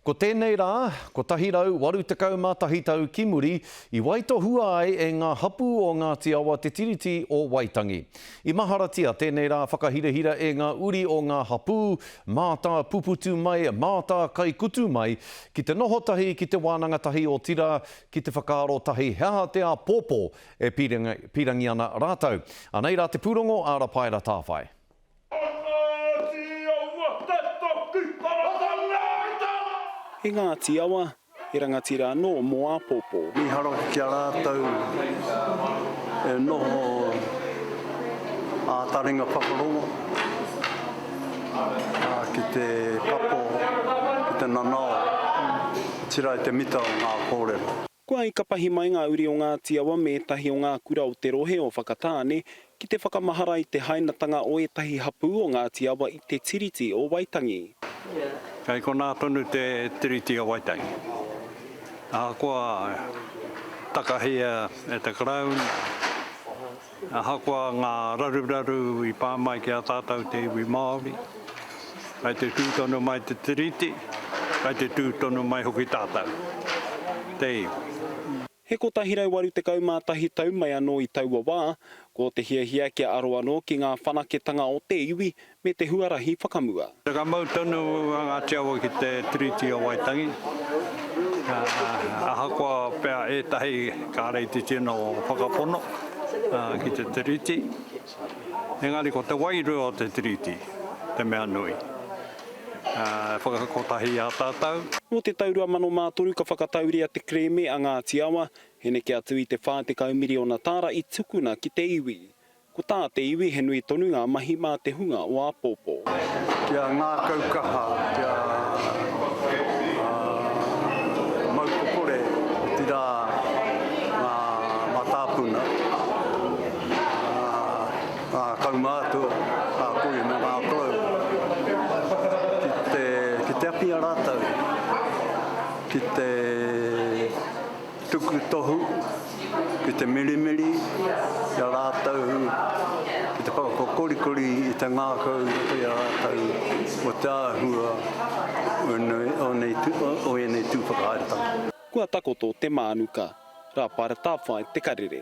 Ko tēnei rā, 181 tau ki muri, i waitohua ai e ngā hapū o Ngāti Awa te Tiriti o Waitangi. I maharatia tēnei rā whakahirahira e ngā uri o ngā hapū, mātāpuputu mai, mātākaikutu mai, ki te noho tahi, ki te wānanga tahi, otirā, ki te whakaaro tahi he aha te āpōpō e pīrangi ana rātou. Anei rā te pūrongo, Āra Paera Tāwhai. E Ngāti Awa, e rangatira anō mō āpōpō. Mīharo ki a rātou e noho ā taringa whakarongo ki te kapo, ki te nanao, otirā i te mita o ngā kōrero. Kua i kapahi mai ngā uri o Ngāti Awa me ētahi o ngā kura o te rohe o Whakatāne ki te whakamahara i te hainatanga o ētahi hapū o Ngāti Awa i te Tiriti o Waitangi. Kei konā tonu te Tiriti o Waitangi. Ahakoa takahia e te Crown Ahakoa ngā raruraru i pā mai ki a tātou te iwi Māori, kai te tū tonu mai te Tiriti, kai te tū tonu mai hoki tātou, te iwi. He 181 tau mai anō i taua wā, ko te hiahia kia aro anō ki ngā whanaketanga o te iwi me te huarahi whakamua. Whakamau tonu a Ngāti Awa ki te Tiriti o Waitangi, ahakoa pea ētahi kāre i te tino whakapono ki te Tiriti, engari ko te wairua o te Tiriti te mea nui. E whakakotahi i a tātou. Nō te tau 2003 ka whakatauria te kerēme a Ngāti Awa, he neke atu i te 40 miriona tāra i tukuna ki te iwi. Ko tā te iwi he nui tonu ngā mahi mā te hunga o āpōpō. Kia ngākau kaha, kia mau kokore, otirā ngā mātāpuna, ngā kaumātua, ngā kohi me ngā korou, ki te apia rātou ki te. Tuku tohu ki te mirimiri i a rātou ki te whakakokorikori i te ngākau i a rātou mō te āhua o ēnei tū whakahaeretanga. Kua takoto te mānuka. Rāpara Tāwhai Te Karere.